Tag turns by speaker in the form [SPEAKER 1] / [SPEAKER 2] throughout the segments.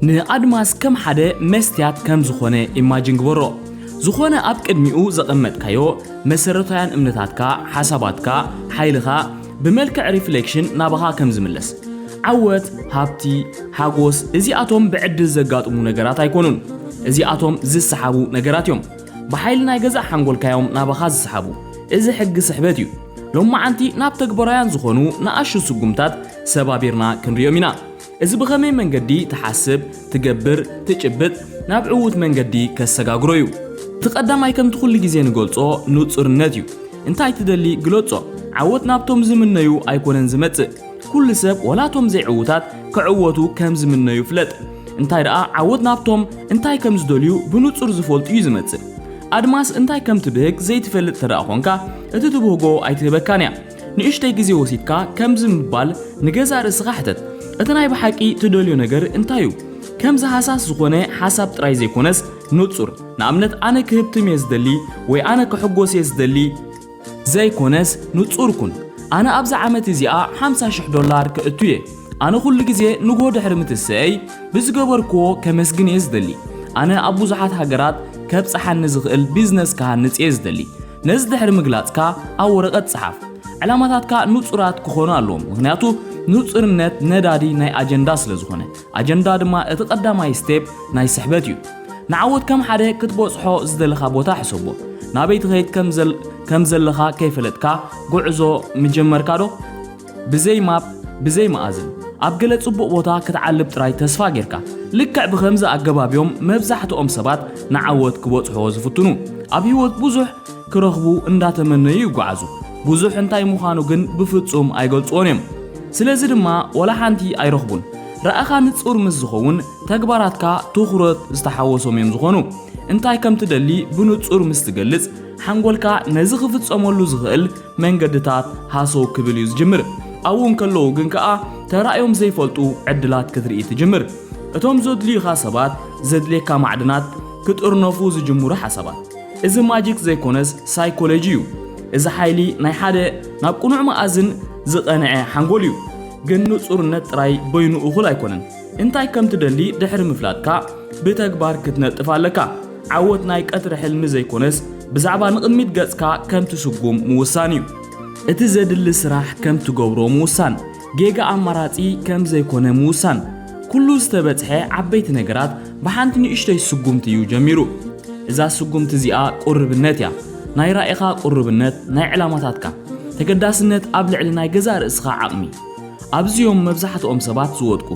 [SPEAKER 1] ንኣድማስ ከም ሓደ መስትያት ከም ዝኾነ ኢማጂን ግበሮ። ዝኾነ ኣብ ቅድሚኡ ዘቐመጥካዮ መሰረታውያን እምነታትካ፣ ሓሳባትካ፣ ሓይልኻ ብመልክዕ ሪፍሌክሽን ናባኻ ከም ዝምለስ። ዓወት፣ ሃብቲ፣ ሓጎስ እዚኣቶም ብዕድል ዘጋጥሙ ነገራት ኣይኮኑን። እዚኣቶም ዝሰሓቡ ነገራት እዮም። ብሓይሊ ናይ ገዛእ ሓንጎልካ እዮም ናባኻ ዝሰሓቡ። እዚ ሕጊ ስሕበት እዩ። ሎማዓንቲ ናብ ተግባራውያን ዝኾኑ ንኣሽቱ ስጉምታት ሰባቢርና ክንርእዮም ኢና። እዚ ብኸመይ መንገዲ ትሓስብ፣ ትገብር፣ ትጭብጥ ናብ ዕዉት መንገዲ ከሰጋግሮ እዩ። እቲ ቀዳማይ ከምቲ ኩሉ ግዜ ንገልጾ ንጹርነት እዩ። እንታይ ትደሊ ግለጾ። ዓወት ናብቶም ዝምነዩ ኣይኮነን ዝመጽእ። ኩሉ ሰብ ወላ እቶም ዘይዕዉታት ክዕወቱ ከም ዝምነዩ ፍለጥ። እንታይ ደኣ ዓወት ናብቶም እንታይ ከም ዝደልዩ ብንጹር ዝፈልጡ እዩ ዝመጽእ። ኣድማስ እንታይ ከም ትብህግ ዘይትፈልጥ እንተደኣ ኮንካ እቲ ትብህጎ ኣይትህበካን እያ። ንእሽተይ ግዜ ወሲድካ ከምዚ ምባል ንገዛእ ርእስኻ ሕተት፣ እቲ ናይ ብሓቂ ትደልዮ ነገር እንታይ እዩ? ከምዚ ሃሳስ ዝዀነ ሓሳብ ጥራይ ዘይኰነስ ንጹር፣ ንኣብነት ኣነ ክህብትም እየ ዝደሊ ወይ ኣነ ክሕጐስ እየ ዝደሊ፣ ዘይኰነስ ንጹር ኩን፣ ኣነ ኣብዛ ዓመት እዚኣ ሓምሳ ሽሕ ዶላር ከእቱ እየ፣ ኣነ ኵሉ ግዜ ንግሆ ድሕሪ ምትሰኤይ ብዝገበርክዎ ከመስግን እየ ዝደሊ፣ ኣነ ኣብ ብዙሓት ሃገራት ከብጽሓኒ ዝኽእል ቢዝነስ ክሃንጽ እየ ዝደሊ፣ ነዚ ድሕሪ ምግላጽካ ኣብ ወረቐት ጽሓፍ። ዕላማታትካ ንጹራት ክኾኑ ኣለዎም፣ ምኽንያቱ ንጹርነት ነዳዲ ናይ ኣጀንዳ ስለ ዝኾነ፣ ኣጀንዳ ድማ እቲ ቀዳማይ ስቴፕ ናይ ስሕበት እዩ። ንዓወት ከም ሓደ ክትበጽሖ ዝደለኻ ቦታ ሕሰቦ። ናበይ ትኸይድ ከም ዘለኻ ከይፈለጥካ ጉዕዞ ምጀመርካዶ? ብዘይ ማፕ ብዘይ መኣዝን ኣብ ገለ ጽቡቕ ቦታ ክትዓልብ ጥራይ ተስፋ ጌርካ። ልክዕ ብኸምዚ ኣገባብ እዮም መብዛሕትኦም ሰባት ንዓወት ክበጽሑዎ ዝፍትኑ። ኣብ ህይወት ብዙሕ ክረኽቡ እንዳተመነዩ ይጓዓዙ። ብዙሕ እንታይ ምዃኑ ግን ብፍጹም ኣይገልጹዎን እዮም። ስለዚ ድማ ወላ ሓንቲ ኣይረኽቡን። ራእኻ ንጹር ምስ ዝኸውን ተግባራትካ ትኹረት ዝተሓወሶም እዮም ዝኾኑ። እንታይ ከም ትደሊ ብንጹር ምስ ትገልጽ ሓንጎልካ ነዚ ክፍጸመሉ ዝኽእል መንገድታት ሃሰው ክብል እዩ ዝጅምር። ኣብኡ እንከለዉ ግን ከኣ ተራእዮም ዘይፈልጡ ዕድላት ክትርኢ ትጅምር። እቶም ዘድልዩኻ ሰባት፣ ዘድልየካ ማዕድናት፣ ክጥርነፉ ዝጅምሩ ሓሳባት። እዚ ማጂክ ዘይኮነስ ሳይኮሎጂ እዩ። እዚ ሓይሊ ናይ ሓደ ናብ ቅኑዕ መኣዝን ዝቐንዐ ሓንጎል እዩ። ግን ንጹርነት ጥራይ በይኑ እኹል ኣይኮነን። እንታይ ከም ትደሊ ድሕሪ ምፍላጥካ ብተግባር ክትነጥፍ ኣለካ። ዓወት ናይ ቀትሪ ሕልሚ ዘይኮነስ ብዛዕባ ንቕድሚት ገጽካ ከም ትስጉም ምውሳን እዩ። እቲ ዘድሊ ስራሕ ከም ትገብሮ ምውሳን፣ ጌጋ ኣማራጺ ከም ዘይኮነ ምውሳን። ኩሉ ዝተበጽሐ ዓበይቲ ነገራት ብሓንቲ ንእሽቶይ ስጉምቲ እዩ ጀሚሩ። እዛ ስጉምቲ እዚኣ ቁርብነት እያ። ናይ ራኢኻ ቁርብነት፣ ናይ ዕላማታትካ ተገዳስነት ኣብ ልዕሊ ናይ ገዛእ ርእስኻ ዓቕሚ። ኣብዚ'ዮም መብዛሕትኦም ሰባት ዝወድቁ።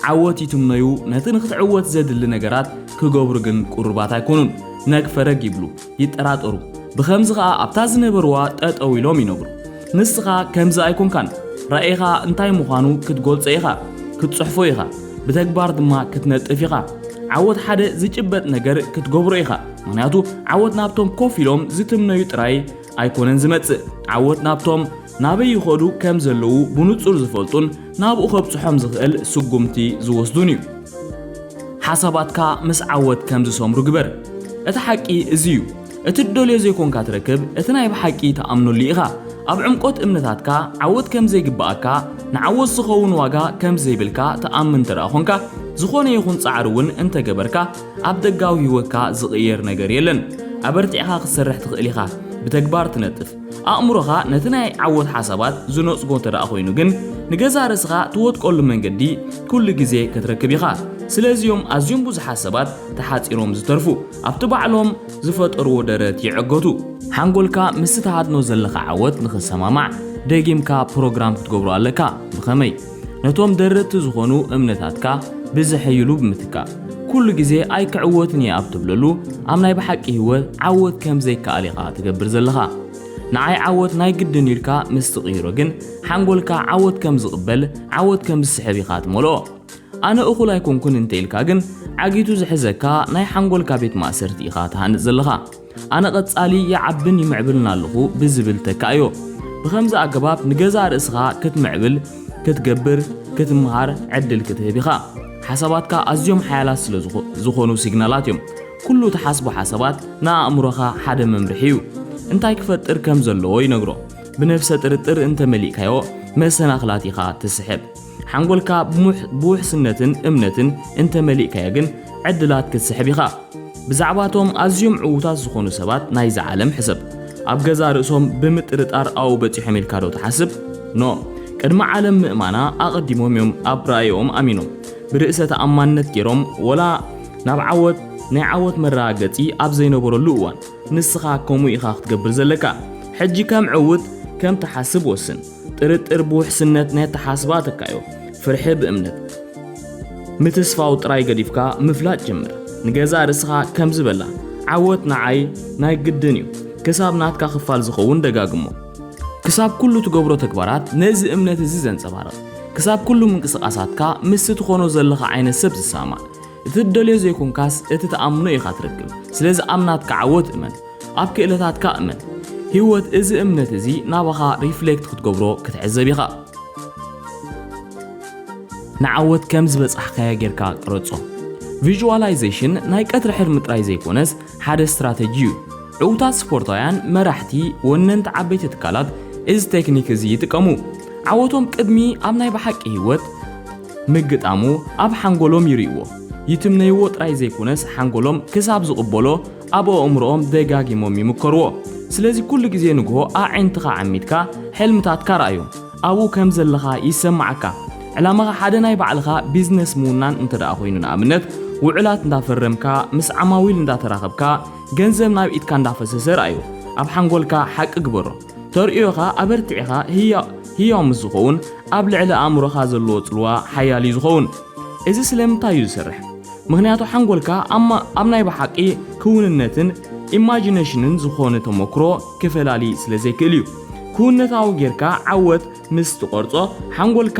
[SPEAKER 1] ዓወት ይትምነዩ፣ ነቲ ንኽትዕወት ዘድሊ ነገራት ክገብሩ ግን ቅሩባት ኣይኮኑን። ነግ ፈረግ ይብሉ፣ ይጠራጠሩ። ብኸምዚ ኸኣ ኣብታ ዝነበርዋ ጠጠው ኢሎም ይነብሩ። ንስኻ ከምዚ ኣይኮንካን። ራኢኻ እንታይ ምዃኑ ክትጎልጾ ኢኻ፣ ክትጽሕፎ ኢኻ፣ ብተግባር ድማ ክትነጥፍ ኢኻ። ዓወት ሓደ ዝጭበጥ ነገር ክትገብሮ ኢኻ። ምኽንያቱ ዓወት ናብቶም ኮፍ ኢሎም ዝትምነዩ ጥራይ ኣይኮነን ዝመጽእ ዓወት ናብቶም ናበይ ይኸዱ ከም ዘለዉ ብንጹር ዝፈልጡን ናብኡ ከብጽሖም ዝኽእል ስጉምቲ ዝወስዱን እዩ። ሓሳባትካ ምስ ዓወት ከም ዝሰምሩ ግበር። እቲ ሓቂ እዚ እዩ። እቲ እትደልዮ ዘይኮንካ ትረክብ፣ እቲ ናይ ብሓቂ ትኣምነሉ ኢኻ። ኣብ ዕምቆት እምነታትካ ዓወት ከም ዘይግብኣካ፣ ንዓወት ዝኸውን ዋጋ ከም ዘይብልካ ትኣምን እንተደኣ ኾንካ፣ ዝኾነ ይኹን ጻዕሪ እውን እንተገበርካ፣ ኣብ ደጋዊ ህይወትካ ዝቕየር ነገር የለን። ኣበርቲዕካ ክትሰርሕ ትኽእል ኢኻ፣ ብተግባር ትነጥፍ። ኣእምሮኻ ነቲ ናይ ዓወት ሓሳባት ዝነጽጎ እንተድኣ ኮይኑ ግን፣ ንገዛእ ርእስኻ ትወድቀሉ መንገዲ ኩሉ ግዜ ክትረክብ ኢኻ። ስለዚ'ዮም ኣዝዮም ብዙሓት ሰባት ተሓጺሮም ዝተርፉ፣ ኣብቲ ባዕሎም ዝፈጠርዎ ደረት ይዕገቱ። ሓንጎልካ ምስቲ ትሃድኖ ዘለኻ ዓወት ንኽሰማማዕ ደጊምካ ፕሮግራም ክትገብሮ ኣለካ። ብኸመይ? ነቶም ደረትቲ ዝኾኑ እምነታትካ ብዘሐይሉ ብምትካእ ኩሉ ግዜ ኣይክዕወትን እየ ኣብ ትብለሉ ኣብ ናይ ብሓቂ ህይወት ዓወት ከም ዘይከኣል ኢኻ ትገብር ዘለኻ ንዓይ ዓወት ናይ ግድን ኢልካ ምስ ትቕይሮ ግን ሓንጎልካ ዓወት ከም ዝቕበል ዓወት ከም ዝስሕብ ኢኻ ትመልኦ ኣነ እኹል ኣይኮንኩን እንተ ኢልካ ግን ዓጊቱ ዝሕዘካ ናይ ሓንጎልካ ቤት ማእሰርቲ ኢኻ ትሃንጽ ዘለኻ ኣነ ቀጻሊ ይዓብን ይምዕብልን ኣለኹ ብዝብል ተካእዮ። ብኸምዚ ኣገባብ ንገዛእ ርእስኻ ክትምዕብል፣ ክትገብር፣ ክትምሃር ዕድል ክትህብ ኢኻ። ሓሳባትካ ኣዝዮም ሓያላት ስለ ዝኾኑ ሲግናላት እዮም። ኩሉ ትሓስቦ ሓሳባት ንኣእምሮኻ ሓደ መምርሒ እዩ። እንታይ ክፈጥር ከም ዘለዎ ይነግሮ። ብነፍሰ ጥርጥር እንተመሊእካዮ መሰናኽላት ኢኻ ትስሕብ። ሓንጎልካ ብውሕስነትን እምነትን እንተ መሊእካዮ ግን ዕድላት ክትስሕብ ኢኻ። ብዛዕባ እቶም ኣዝዮም ዕዉታት ዝኾኑ ሰባት ናይዛ ዓለም ሕሰብ። ኣብ ገዛእ ርእሶም ብምጥርጣር ኣብኡ በጺሖም ኢልካ ዶ ትሓስብ? ኖእ ቅድሚ ዓለም ምእማና ኣቐዲሞም እዮም ኣብ ራእይኦም ኣሚኖም። ብርእሰ ተኣማንነት ገይሮም ወላ ናብ ዓወት ናይ ዓወት መረጋገጺ ኣብ ዘይነበረሉ እዋን። ንስኻ ከምኡ ኢኻ ክትገብር ዘለካ። ሕጂ ከም ዕዉት ከም ትሓስብ ወስን። ጥርጥር ብውሕስነት ናይ ኣተሓስባ ተካዮ፣ ፍርሒ ብእምነት። ምትስፋው ጥራይ ገዲፍካ ምፍላጥ ጀምር። ንገዛእ ርእስኻ ከምዚ በላ፣ ዓወት ንዓይ ናይ ግድን እዩ፣ ክሳብ ናትካ ክፋል ዝኸውን ደጋግሞ። ክሳብ ኩሉ ትገብሮ ተግባራት ነዚ እምነት እዚ ዘንጸባርቕ፣ ክሳብ ኩሉ ምንቅስቓሳትካ ምስቲ ትኾኖ ዘለኻ ዓይነት ሰብ ዝሰማማዕ። እቲ ትደልዮ ዘይኮንካስ እቲ ትኣምኖ ኢኻ ትረክብ፣ ስለዚ ኣብ ናትካ ዓወት እመን። ኣብ ክእለታትካ እመን። ህይወት እዚ እምነት እዚ ናባኻ ሪፍሌክት ክትገብሮ ክትዕዘብ ኢኻ። ንዓወት ከም ዝበጻሕካዮ ጌርካ ቅረጾ። ቪዥዋላይዜሽን ናይ ቀትሪ ሕልሚ ጥራይ ዘይኮነስ ሓደ ስትራተጂ እዩ። ዕውታት ስፖርታውያን፣ መራሕቲ፣ ወነንቲ ዓበይቲ ትካላት እዚ ቴክኒክ እዚ ይጥቀሙ። ዓወቶም ቅድሚ ኣብ ናይ ብሓቂ ህይወት ምግጣሙ ኣብ ሓንጎሎም ይርእይዎ። ይትምነይዎ ጥራይ ዘይኮነስ ሓንጎሎም ክሳብ ዝቕበሎ ኣብ ኣእምሮኦም ደጋጊሞም ይምከርዎ። ስለዚ ኩሉ ግዜ ንግሆ ኣዒንትኻ ዓሚትካ ሕልምታትካ ርኣዮም። ኣብኡ ከም ዘለኻ ይሰማዓካ። ዕላማኻ ሓደ ናይ ባዕልኻ ቢዝነስ ምውናን እንተድኣ ኮይኑ ንኣብነት ውዑላት እንዳፈረምካ ምስ ዓማዊል እንዳተራኸብካ ገንዘብ ናብ ኢድካ እንዳፈሰሰ ርኣዮ። ኣብ ሓንጎልካ ሓቂ ግበሮ። ተርእዮኻ ኣበርቲዕኻ ህያው ህያው ምስ ዝኸውን ኣብ ልዕሊ ኣእምሮኻ ዘለዎ ጽልዋ ሓያል እዩ ዝኸውን። እዚ ስለምንታይ እዩ ዝሰርሕ? ምኽንያቱ ሓንጎልካ ኣብ ኣብ ናይ ብሓቂ ክውንነትን ኢማጂነሽንን ዝኾነ ተሞክሮ ክፈላሊ ስለ ዘይክእል እዩ። ክውንነታዊ ጌርካ ዓወት ምስ ትቐርጾ ሓንጎልካ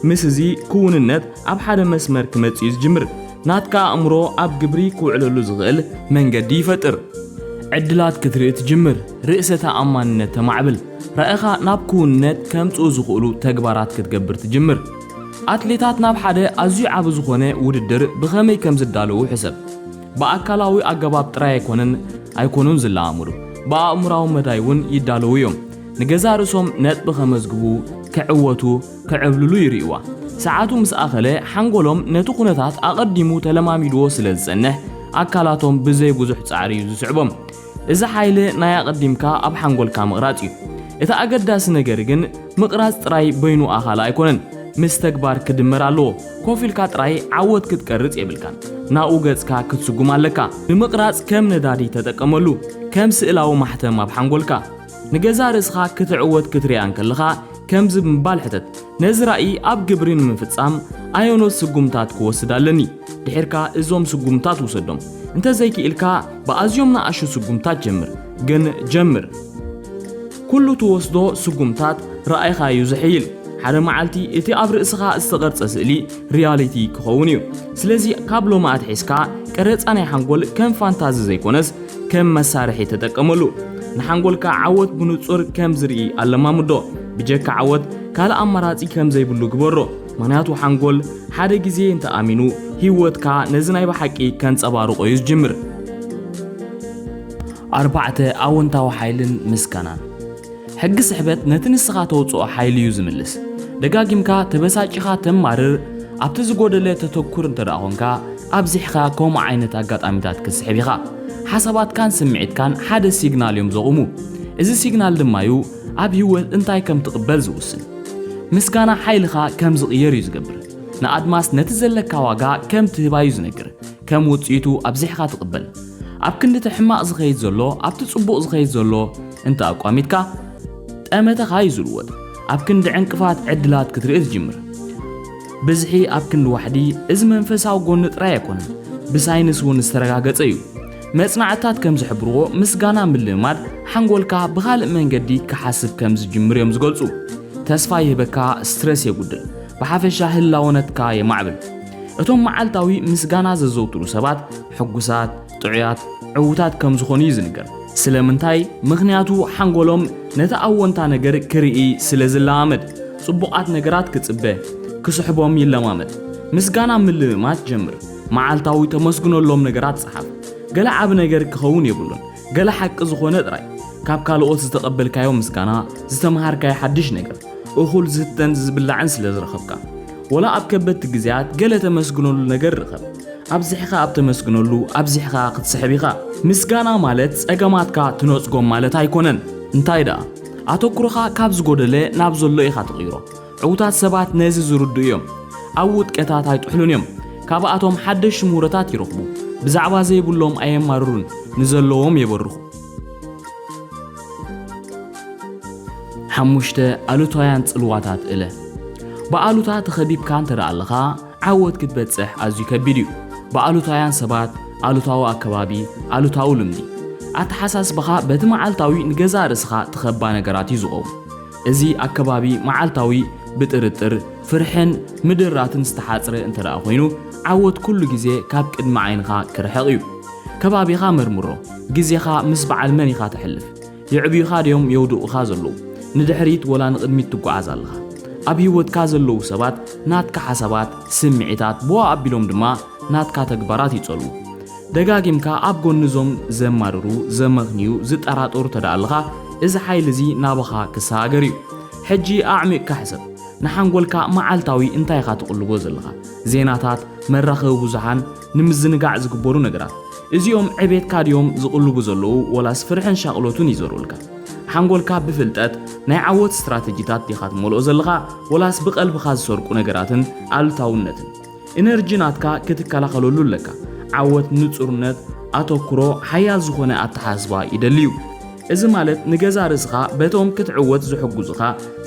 [SPEAKER 1] ምስ እዚ ክውንነት ኣብ ሓደ መስመር ክመጽእ እዩ ዝጅምር። ናትካ ኣእምሮ ኣብ ግብሪ ክውዕለሉ ዝኽእል መንገዲ ይፈጥር። ዕድላት ክትርኢ ትጅምር፣ ርእሰ ተኣማንነት ተማዕብል፣ ራኢኻ ናብ ክውንነት ከምጽኡ ዝኽእሉ ተግባራት ክትገብር ትጅምር። ኣትሌታት ናብ ሓደ ኣዝዩ ዓቢ ዝኾነ ውድድር ብኸመይ ከም ዝዳለዉ ሕሰብ። ብኣካላዊ ኣገባብ ጥራይ ኣይኮነን ኣይኮኑን ዝለማመዱ፣ ብኣእምሮኣዊ መዳይ እውን ይዳለዉ እዮም። ንገዛእ ርእሶም ነጥቢ ከመዝግቡ፣ ክዕወቱ፣ ክዕብልሉ ይርእዩዋ። ሰዓቱ ምስ ኣኸለ ሓንጎሎም ነቲ ኩነታት ኣቐዲሙ ተለማሚድዎ ስለ ዝጸንሕ ኣካላቶም ብዘይ ብዙሕ ጻዕሪ እዩ ዝስዕቦም። እዚ ሓይሊ ናይ ኣቐዲምካ ኣብ ሓንጎልካ ምቕራጽ እዩ። እቲ ኣገዳሲ ነገር ግን ምቕራጽ ጥራይ በይኑ ኣኻሊ ኣይኮነን፣ ምስ ተግባር ክድመር ኣለዎ። ኮፍ ኢልካ ጥራይ ዓወት ክትቀርጽ የብልካን፣ ናብኡ ገጽካ ክትስጉም ኣለካ። ንምቕራጽ ከም ነዳዲ ተጠቀመሉ፣ ከም ስእላዊ ማሕተም ኣብ ሓንጎልካ። ንገዛእ ርእስኻ ክትዕወት ክትርእያ እንከለኻ ከምዚ ብምባል ሕተት፣ ነዚ ራኢ ኣብ ግብሪ ንምፍጻም ኣየኖት ስጉምታት ክወስድ ኣለኒ? ድሒርካ እዞም ስጉምታት ውሰዶም። እንተ ዘይክኢልካ ብኣዝዮም ንኣሽቱ ስጉምታት ጀምር። ግን ጀምር። ኩሉ ትወስዶ ስጉምታት ራኢኻ እዩ ዝሕይል። ሓደ መዓልቲ እቲ ኣብ ርእስኻ ዝተቐርጸ ስእሊ ሪያሊቲ ክኸውን እዩ። ስለዚ ካብ ሎሚ ኣትሒዝካ ቀረጻ ናይ ሓንጎል ከም ፋንታዚ ዘይኮነስ ከም መሳርሒ ተጠቀመሉ። ንሓንጎልካ ዓወት ብንጹር ከም ዝርኢ ኣለማምዶ። ብጀካ ዓወት ካልእ ኣማራጺ ከም ዘይብሉ ግበሮ። ምኽንያቱ ሓንጎል ሓደ ግዜ እንተ ኣሚኑ፣ ህይወትካ ነዚ ናይ ብሓቂ ከንጸባርቖ እዩ ዝጅምር። ኣርባዕተ፣ ኣወንታዊ ሓይልን ምስጋናን። ሕጊ ስሕበት ነቲ ንስኻ ተውጽኦ ሓይሊ እዩ ዝምልስ። ደጋጊምካ ተበሳጪኻ ተማርር፣ ኣብቲ ዝጎደለ ተተኩር እንተ ኾንካ፣ ኣብዚሕኻ ከምኡ ዓይነት ኣጋጣሚታት ክትስሕብ ኢኻ። ሓሳባትካን ስምዒትካን ሓደ ሲግናል እዮም ዘቑሙ። እዚ ሲግናል ድማ እዩ ኣብ ህይወት እንታይ ከም ትቕበል ዝውስን። ምስጋና ሓይልኻ ከም ዝቕየር እዩ ዝገብር። ንኣድማስ ነቲ ዘለካ ዋጋ ከም ትህባ እዩ ዝነግር። ከም ውጽኢቱ ኣብዚሕካ ትቕበል። ኣብ ክንዲ እቲ ሕማቕ ዝኸይድ ዘሎ ኣብቲ ጽቡቕ ዝኸይድ ዘሎ እንተ ኣቋሚትካ ጠመተኻ እዩ ዝልወጥ። ኣብ ክንዲ ዕንቅፋት ዕድላት ክትርኢ ትጅምር። ብዝሒ ኣብ ክንዲ ዋሕዲ እዚ መንፈሳዊ ጎኒ ጥራይ ኣይኮነን፣ ብሳይንስ እውን ዝተረጋገጸ እዩ። መጽናዕትታት ከም ዝሕብርዎ ምስጋና ምልምማድ ሓንጎልካ ብኻልእ መንገዲ ክሓስብ ከም ዝጅምር እዮም ዝገልጹ። ተስፋ ይህበካ፣ ስትረስ የጉድል፣ ብሓፈሻ ህላወነትካ የማዕብል። እቶም መዓልታዊ ምስጋና ዘዘውትሩ ሰባት ሕጉሳት፣ ጥዑያት፣ ዕዉታት ከም ዝኾኑ እዩ ዝንገር። ስለምንታይ? ምኽንያቱ ሓንጎሎም ነቲ ኣዎንታ ነገር ክርኢ ስለ ዝለማመድ፣ ጽቡቓት ነገራት ክጽበ፣ ክስሕቦም ይለማመድ። ምስጋና ምልምማድ ጀምር። መዓልታዊ ተመስግነሎም ነገራት ጸሓፍ። ገለ ዓቢ ነገር ክኸውን የብሉን፣ ገለ ሓቂ ዝኾነ ጥራይ። ካብ ካልኦት ዝተቐበልካዮ ምስጋና፣ ዝተመሃርካዮ ሓድሽ ነገር፣ እኹል ዝስተን ዝብላዕን ስለ ዝረኸብካ። ወላ ኣብ ከበድቲ ግዜያት ገለ ተመስግነሉ ነገር ርኸብ። ኣብዚሕካ ኣብ ተመስግነሉ ኣብዚሕካ ክትስሕብ ኢኻ። ምስጋና ማለት ጸገማትካ ትነጽጎም ማለት ኣይኮነን። እንታይ ደኣ፣ ኣተኩሮኻ ካብ ዝጎደለ ናብ ዘሎ ኢኻ ትቕይሮ። ዕውታት ሰባት ነዚ ዝርድኡ እዮም። ኣብ ውጥቀታት ኣይጥሕሉን እዮም። ካብኣቶም ሓደሽቲ ምህሮታት ይረኽቡ። ብዛዕባ ዘይብሎም ኣየማርሩን፣ ንዘለዎም የበርኹ። ሓሙሽተ ኣሉታውያን ጽልዋታት እለ። ብኣሉታ ተኸቢብካ እንተ ኣለኻ፣ ዓወት ክትበጽሕ ኣዝዩ ከቢድ እዩ። ብኣሉታውያን ሰባት፣ ኣሉታዊ ኣከባቢ፣ ኣሉታዊ ልምዲ። ኣተሓሳስባኻ በቲ መዓልታዊ ንገዛእ ርእስኻ ትኸባ ነገራት እዩ ዝኸውን። እዚ ኣከባቢ መዓልታዊ ብጥርጥር፣ ፍርሕን ምድራትን ዝተሓጽረ እንተደኣ ኮይኑ፣ ዓወት ኩሉ ግዜ ካብ ቅድሚ ዓይንኻ ክርሕቕ እዩ። ከባቢኻ መርምሮ። ግዜኻ ምስ በዓል መን ኢኻ ተሕልፍ? የዕብዩኻ ድዮም የውድቑኻ ዘለዉ? ንድሕሪት ወላ ንቕድሚት ትጓዓዝ ኣለኻ? ኣብ ህይወትካ ዘለዉ ሰባት ናትካ ሓሳባት፣ ስምዒታት፣ ብኡ ኣቢሎም ድማ ናትካ ተግባራት ይጸልዉ። ደጋጊምካ ኣብ ጎኒ እዞም ዘማርሩ፣ ዘመኽንዩ፣ ዝጠራጠሩ ተደኣ ኣለኻ፣ እዚ ሓይሊ እዚ ናባኻ ክሰጋገር እዩ። ሕጂ ኣዕሚቕካ ሕሰብ። ንሓንጎልካ መዓልታዊ እንታይ ኢኻ ትቕልቦ ዘለኻ? ዜናታት፣ መራኸቢ ብዙሓን፣ ንምዝንጋዕ ዝግበሩ ነገራት። እዚኦም ዕቤትካ ድዮም ዝቕልቡ ዘለዉ ወላስ ፍርሕን ሻቕሎትን ይዘርኡልካ? ሓንጎልካ ብፍልጠት፣ ናይ ዓወት ስትራተጂታት ዲኻ ትመልኦ ዘለኻ ወላስ ብቐልብኻ ዝሰርቁ ነገራትን ኣሉታውነትን? ኢነርጂ ናትካ ክትከላኸለሉ ኣለካ። ዓወት ንጹርነት፣ ኣተኩሮ፣ ሓያል ዝኾነ ኣተሓሳስባ ይደሊ'ዩ። እዚ ማለት ንገዛ ርእስኻ በቶም ክትዕወት ዝሕጉዙኻ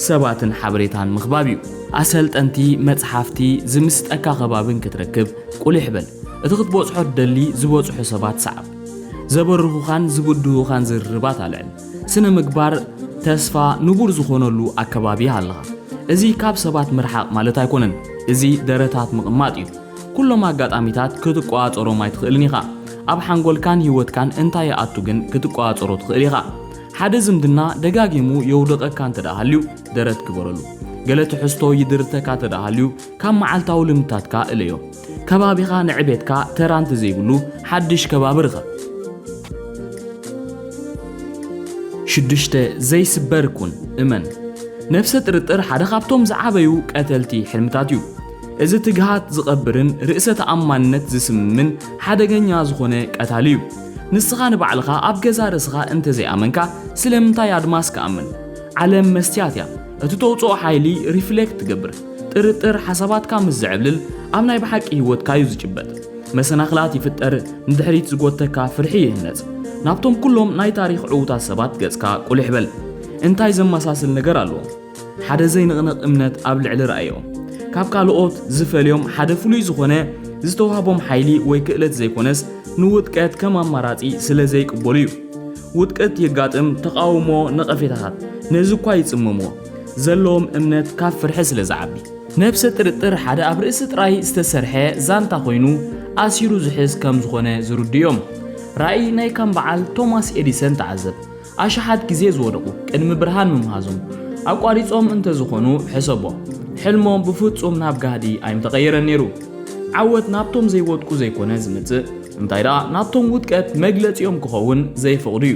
[SPEAKER 1] ሰባትን ሓበሬታን ምኽባብ እዩ። ኣሰልጠንቲ፣ መጽሓፍቲ፣ ዝምስጠካ ከባብን ክትረክብ ቁሊሕ በል። እቲ ክትበጽሖ ትደሊ ዝበጽሑ ሰባት ሰዓብ። ዘበርሁኻን ዝብድሁኻን ዝርርባት ኣልዕል። ስነ ምግባር ተስፋ ንቡር ዝኾነሉ ኣከባቢ ሃለኻ እዚ ካብ ሰባት ምርሓቕ ማለት ኣይኮነን እዚ ደረታት ምቕማጥ እዩ ኩሎም ኣጋጣሚታት ክትቆጻጸሮም ኣይትኽእልን ኢኻ ኣብ ሓንጎልካን ህይወትካን እንታይ ይኣቱ ግን ክትቆጻጸሮ ትኽእል ኢኻ ሓደ ዝምድና ደጋጊሙ የውድቐካ እንተ ሃልዩ ደረት ግበረሉ ገለ ትሕዝቶ ይድርተካ እንተ ሃልዩ ካብ መዓልታዊ ልምድታትካ እለዮ ከባቢኻ ንዕቤትካ ተራ እንተዘይብሉ ሓድሽ ከባቢ ርኸብ። ሽዱሽተ፣ ዘይስበር ኩን፣ እመን። ነብሰ ጥርጥር ሓደ ካብቶም ዝዓበዩ ቀተልቲ ሕልምታት እዩ። እዚ ትግሃት ዝቐብርን ርእሰ ተኣማንነት ዝስምምን ሓደገኛ ዝኾነ ቀታሊ እዩ። ንስኻ ንባዕልኻ ኣብ ገዛ ርእስኻ እንተዘይኣመንካ ስለምንታይ ኣድማስ ክኣምን? ዓለም መስትያት እያ። እቲ ተውጽኦ ሓይሊ ሪፍሌክት ትገብር። ጥርጥር ሓሳባትካ ምስ ዝዕብልል ኣብ ናይ ብሓቂ ህይወትካ እዩ ዝጭበጥ። መሰናኽላት ይፍጠር፣ ንድሕሪት ዝጎተካ ፍርሒ ይህነጽ። ናብቶም ኩሎም ናይ ታሪኽ ዕዉታት ሰባት ገጽካ ቁሊሕ በል። እንታይ ዘመሳስል ነገር ኣሎዎም? ሓደ ዘይንቕነቕ እምነት ኣብ ልዕሊ ራእዮም። ካብ ካልኦት ዝፈልዮም ሓደ ፍሉይ ዝኾነ ዝተዋህቦም ሓይሊ ወይ ክእለት ዘይኮነስ ንውድቀት ከም ኣማራጺ ስለ ዘይቅበሉ እዩ። ውድቀት የጋጥም፣ ተቓውሞ፣ ነቐፌታታት ነዚ እኳ ይጽመምዎ። ዘለዎም እምነት ካብ ፍርሒ ስለ ዝዓቢ። ነብሰ ጥርጥር ሓደ ኣብ ርእሲ ጥራይ ዝተሰርሐ ዛንታ ኮይኑ ኣሲሩ ዝሕዝ ከም ዝኾነ ዝርድኡ እዮም። ራእይ ናይ ከም በዓል ቶማስ ኤዲሰን ተዓዘብ። ኣሽሓት ግዜ ዝወደቑ ቅድሚ ብርሃን ምምሃዞም ኣቋሪጾም እንተ ዝኾኑ ሕሰቦ። ሕልሞም ብፍጹም ናብ ጋህዲ ኣይምተቐየረን ነይሩ። ዓወት ናብቶም ዘይወድቁ ዘይኮነ ዝመጽእ እንታይ ደኣ ናብቶም ውድቀት መግለጺኦም ክኸውን ዘይፈቕዱ እዩ።